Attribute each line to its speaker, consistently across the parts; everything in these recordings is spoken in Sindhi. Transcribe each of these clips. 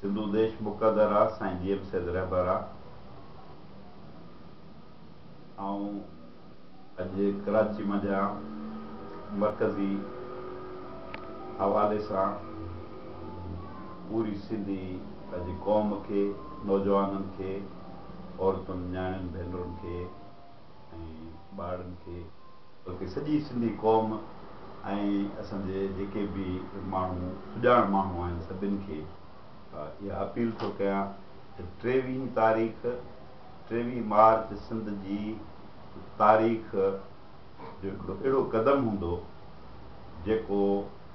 Speaker 1: سنڌو ديش مقدر آ سائين جي ايم سيد رهبر آ آئون اڄ ڪراچي منجهان مرڪزي حوالي سان پوري سنڌي اڄ قوم کي نوجوانن کي عورتن نياڻين ڀينرن کي ۽ ٻارڙن کي بلڪه سڄي سنڌي قوم ۽ اسان جي جيڪي به ماڻهو سڄاڻ ماڻهو آهن سڀن کي اها اپيل ٿو ڪيان ته ٽيويهين تاريخ ٽيويهين مارچ سنڌ جي تاريخ جو هڪڙو اهڙو قدم هوندو جيڪو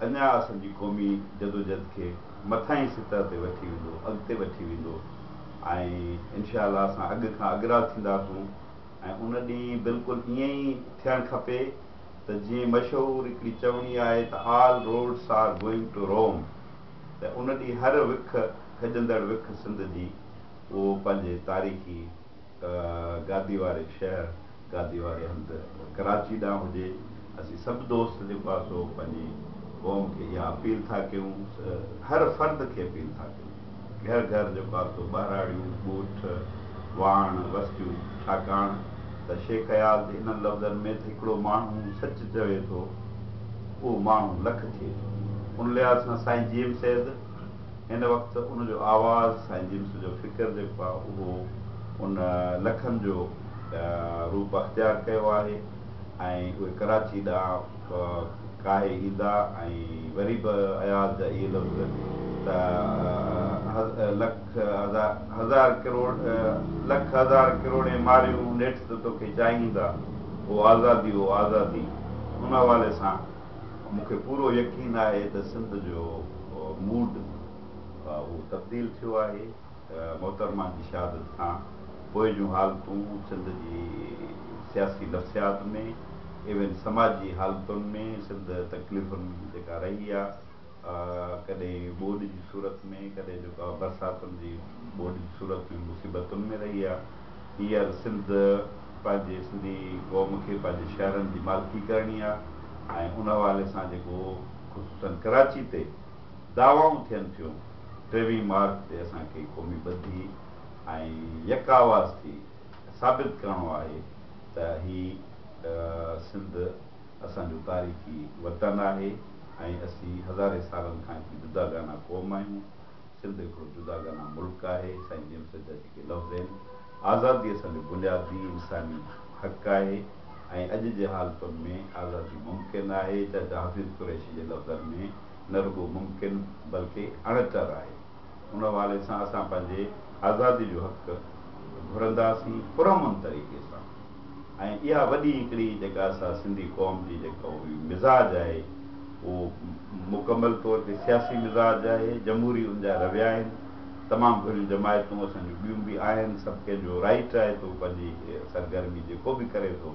Speaker 1: اڃا اسان جي قومي جدوجھد کي مٿانهين سطح تي وٺي ويندو، اڳتي وٺي ويندو ۽ انشاء الله اسان اڳ کان اڳرا ٿينداسون ۽ ان ڏينهن بلڪل ائين ئي ٿيڻ کپي ته جيئن مشهور هڪڙي چوڻي آهي ته All Roads Are Going To Rome ته ان ڏينهن هر وک کڄندڙ وک سنڌ جي اهو پنهنجي تاريخي گادي واري شهر، گادي واري هنڌ، ڪراچي ڏانهن هجي، اسين سڀ دوست جي پاسو پنهنجي قوم کي اها اپيل ٿا ڪيون، هر فرد کي اپيل ٿا ڪيون، گهر گهر جي پاسو ٻهراڙيون، ڳوٺ، واڻ، وستيون، ڇاڪاڻ ته شيخ اياز جي انهن لفظن ۾ ته هڪڙو ماڻهو سچ چوي ٿو، اهو ماڻهو لک ٿئي ٿو. ان لحاظ سان سائين جي ايم سيد. ان وقت ان جو آواز سائين جيمس جو فڪر جيڪو آهي اهو ان لکن جو روپ اختيار ڪيو آهي ۽ اهي ڪراچي ڏانهن ڪاهي ايندا ۽ وري به اياز جا اهي لفظ ته لک هزار ڪروڙين ماريون نيٺ ته توکي چاهيندا او آزادي او آزادي ان حوالي سان مون کي پورو يقين آهي ته سنڌ جو موڊ اهو تبديل ٿيو آهي محترمه جي شهادت کان پوء جون حالتون سنڌ جي سياسي نفسيات ۾ ايون سماجي حالتن ۾ سنڌ تڪليفن جيڪا رهي آهي ڪڏهن ٻوڏ جي صورت ۾ ڪڏهن جيڪا برساتن جي ٻوڏ جي صورت ۾ مصيبتن ۾ رهي آ هينئر سنڌ پنهنجي سنڌي قوم کي پنهنجي شهرن جي مالڪي ڪرڻي آ ۽ ان حوالي سان جيڪو خصوصن ڪراچي تي دعوائون ٿين ٿيون ٽيويهين مارچ تي اسان کي قومي ٻڌي ۽ يڪ آواز ٿي ثابت ڪرڻو آهي ته هي سنڌ اسان جو تاريخي وطن آهي ۽ اسين هزارين سالن کان هڪ جداگانه قوم آهيون. سنڌ هڪڙو جداگانه ملڪ آهي. سائين نيم سيد جا جيڪي لفظ آهن، آزادي اسان جو بنيادي انساني حق آهي ۽ اڄ جي حالتن ۾ آزادي ممڪن آهي. چاچا حفيظ قريشي جي لفظن ۾ نه رڳو ممڪن بلڪه اڻٽر آهي. ان حوالي سان اسان پنهنجي آزادي جو حق گهرنداسين پرامن طريقي سان. ۽ اها وڏي هڪڙي جيڪا اسان سنڌي قوم جي جيڪا هئي مزاج آهي اهو مڪمل طور تي سياسي مزاج آهي جمهوري ان جا رويا آهن تمام گهريون جماعتون اسان جون ٻيون به آهن سڀ ڪنهن جو رائيٽ آهي ته هو پنهنجي سرگرمي جيڪو به ڪري ٿو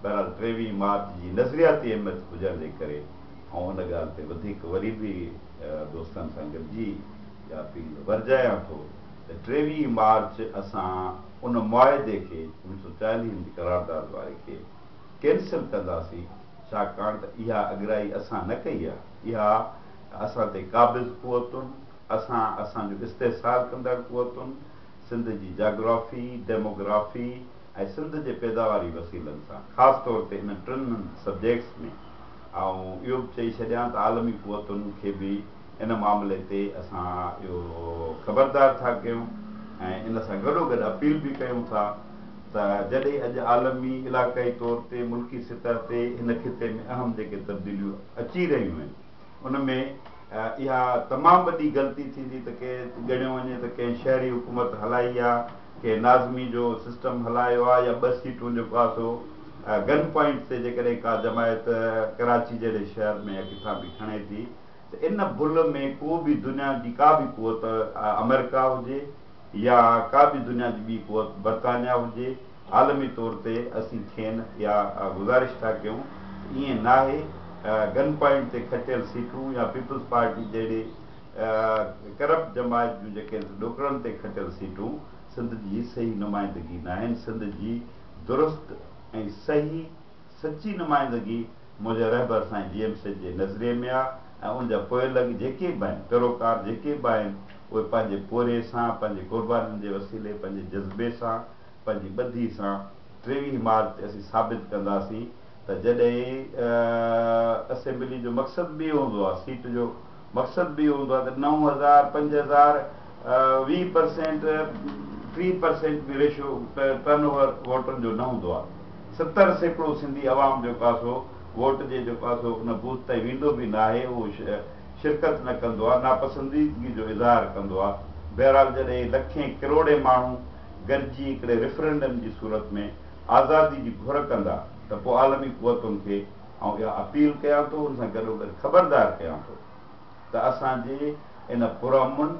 Speaker 1: بهرحال ٽيويهين مارچ جي نظرياتي اهميت هجڻ جي ڪري آئون ان ڳالهه تي وڌيڪ وري به دوستن سان گڏجي اها اپيل ورجايان ٿو ته ٽيويهين مارچ اسان ان معاهدي کي ان سؤ چاليهن جي قرارداد واري کي ڪينسل ڪنداسين ڇاڪاڻ ته اها اڳرائي اسان نه ڪئي آهي اها اسان تي قابض قوتن اسان اسان جو استحصال ڪندڙ قوتن سنڌ جي جاگرافي ڊيموگرافي ۽ سنڌ جي پيداواري وسيلن سان خاص طور تي انهن ٽن سبجيڪٽس ۾ آئون اهو به چئي ڇڏيان ته عالمي قوتن کي به ان معاملي تي اسان اهو خبردار ٿا ڪيون ۽ ان سان گڏوگڏ اپيل به ڪيون ٿا ته جڏهن اڄ عالمي، علاقائي طور تي ملڪي سطح تي هن خطي ۾ اهم جيڪي تبديليون اچي رهيون آهن ان ۾ اها تمام وڏي غلطي ٿيندي ته ڪنهن ڳڻيو وڃي ته ڪنهن شهري حڪومت هلائي آ، ڪنهن ناظمي جو سسٽم هلايو آ يا ٻه سيٽون جو پاسو گن پوائنٽ تي جيڪڏهن ڪا جماعت ڪراچي جهڙي شهر ۾ يا ڪٿان به کڻي ٿي. ته ان بل ۾ ڪو به دنيا جي ڪا به قوت آمريڪا هجي يا ڪا به دنيا جي ٻي قوت برطانيا هجي عالمي طور تي اسين کين اها گذارش ٿا ڪيون ته ائين ناهي گن پوائنٽ تي کٽيل سيٽون يا پيپلز پارٽي جهڙي ڪرپٽ جماعت جون جيڪي ڏوڪڙن تي کٽيل سيٽون سنڌ جي صحيح نمائندگي ناهن سنڌ جي درست ۽ صحيح سچي نمائندگي منهنجي رهبر سائين جي ايم سيد جي نظرئي ۾ آ ۽ ان جا پوئلڳ جيڪي به آهن، پيروڪار جيڪي به آهن، اهي پنهنجي پورهئي سان، پنهنجي قربانين جي وسيلي، پنهنجي جذبي سان، پنهنجي ٻڌي سان ٽيويهه مارچ تي اسين ثابت ڪنداسين ته جڏهن اسيمبلي جو مقصد به اهو هوندو آ سيٽ جو مقصد به اهو هوندو آهي ته نو هزار، پنج هزار، ويهه پرسينٽ، ٽيهه پرسينٽ به ريشو ٽرن اوور ووٽن جو نه هوندو آهي. ستر سيڪڙو سنڌي عوام جو ڪاسو ووٽ جي جو ڪاسو ان بوٿ تائين ويندو به ناهي اهو شرڪت نه ڪندو آهي، ناپسنديدگي جو اظهار ڪندو آهي. بهرحال جڏهن لکين ڪروڙين ماڻهو گڏجي هڪڙي ريفرنڊم جي صورت ۾ آزادي جي گهر ڪندا ته پوء عالمي قوتن کي. آئون اها اپيل ڪيان ٿو ان سان گڏوگڏ خبردار ڪيان ٿو ته اسان جي ان پرامن،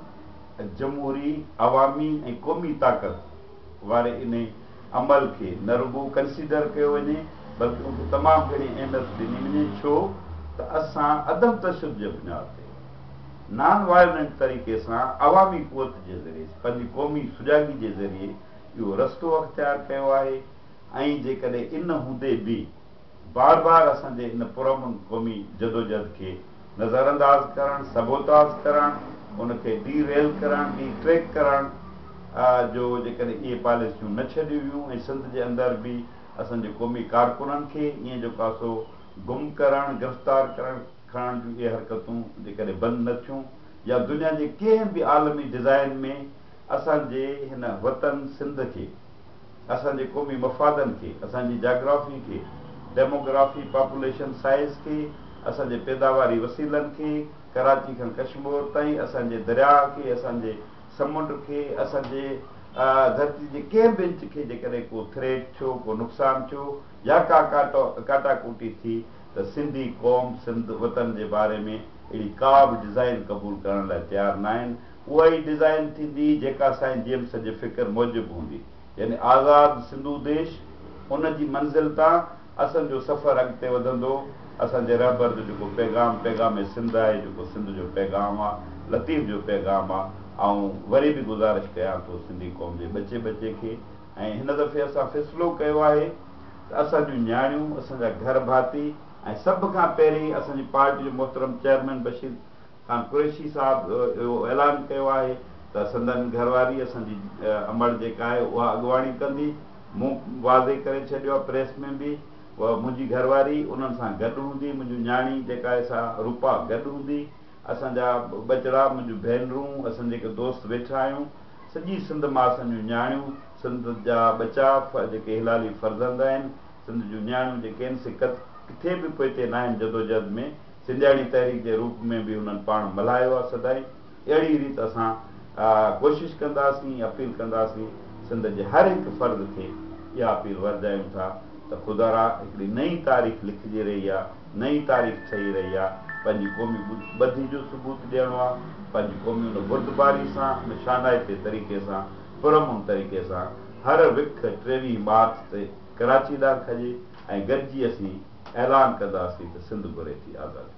Speaker 1: جمهوري، عوامي ۽ قومي طاقت واري انهي عمل کي نه رڳو ڪنسيڊر ڪيو وڃي بلڪه ان کي تمام گهڻي اهميت ڏني وڃي ڇو ته اسان عدم تشدد جي بنياد تي نان وائلنٽ طريقي سان عوامي قوت جي ذريعي پنهنجي قومي سجاڳي جي ذريعي اهو رستو اختيار ڪيو آهي ۽ جيڪڏهن ان هوندي به بار بار اسان جي ان پرامن قومي جدوجهد کي نظرانداز ڪرڻ، سبوتاز ڪرڻ، ان کي ڊي ريل ڪرڻ، ڊي ٽريڪ ڪرڻ جو جيڪڏهن اهي پاليسيون نه ڇڏيون ويون ۽ سنڌ جي اندر به اسان جي قومي ڪارڪنن کي ائين جو ڪاسو گم ڪرڻ، گرفتار ڪرڻ، کڻڻ جون اهي حرڪتون جيڪڏهن بند نه ٿيون يا دنيا جي ڪنهن به عالمي ڊزائن ۾ اسان جي هن وطن سنڌ کي. اسان جي قومي مفادن کي، اسان جي جاگرافي کي، ڊيموگرافي، پاپوليشن سائيز کي، اسان جي پيداواري وسيلن کي، ڪراچي کان ڪشمور تائين، اسان جي درياء کي، اسان جي سمنڊ کي، اسان جي ڌرتي جي ڪنهن به انچ کي جيڪڏهن ڪو ٿريٽ ٿيو، ڪو نقصان ٿيو يا ڪا ڪاٽا ڪوٽي ٿي ته سنڌي قوم، سنڌ وطن جي باري ۾ اهڙي ڪا به ڊزائين قبول ڪرڻ لاء تيار ناهن. اها ئي ڊزائين ٿيندي جيڪا سائين جيمس جي فڪر موجب هوندي يعني آزاد سنڌو ديش ان جي منزل تان اسن جو سفر اڳتي وڌندو اسان جي رهبر جو جيڪو پيغام پيغام سنڌ آهي جيڪو سنڌ جو پيغام آ لطيف جو پيغام آ آئون وري به گذارش ڪيان ٿو سنڌي قوم جي ٻچي ٻچي کي ۽ هن دفعي اسان فيصلو ڪيو آهي ته اسان جون نياڻيون اسان جا گهر ڀاتي ۽ سڀ کان پهرين اسان جي پارٽي جو محترم چيئرمين بشير کان قريشي صاحب اهو اعلان ڪيو آهي ته سندن گهر واري اسان جي امڙ جيڪا آهي اها اڳواڻي ڪندي مون واضح ڪري ڇڏيو آهي پريس ۾ به منهنجي گهر واري انهن سان گڏ هوندي منهنجو نياڻي جيڪا آهي سا روپا گڏ هوندي اسان جا ٻچڙا منهنجو ڀينرون اسان جيڪي دوست ويٺا آهيون سڄي سنڌ مان اسان جون نياڻيون سنڌ جا ٻچا جيڪي هلالي فرزند آهن سنڌ جون نياڻيون جيڪي آهن سي ڪٿي به پوئتي ناهن جدوجهد ۾ سنڌياڻي تحريڪ جي روپ ۾ به انهن پاڻ ملهايو آهي سدائين اهڙي ريت اسان ڪوشش ڪنداسين اپيل ڪنداسين سنڌ جي هر هڪ فرد کي اها اپيل ورجايون ٿا ته خدارا هڪڙي نئين تاريخ لکجي رهي آهي نئين تاريخ ٺهي رهي آهي پنهنجي قومي ٻڌي جو ثبوت ڏيڻو آهي پنهنجي قومي ان بردباري سان ان شانائتي طريقي سان پرامن طريقي سان هر وک ٽيويهين مارچ تي ڪراچي ڏانهن کڄي ۽ گڏجي اسين اعلان ڪنداسين ته سنڌ گهري ٿي آزادي.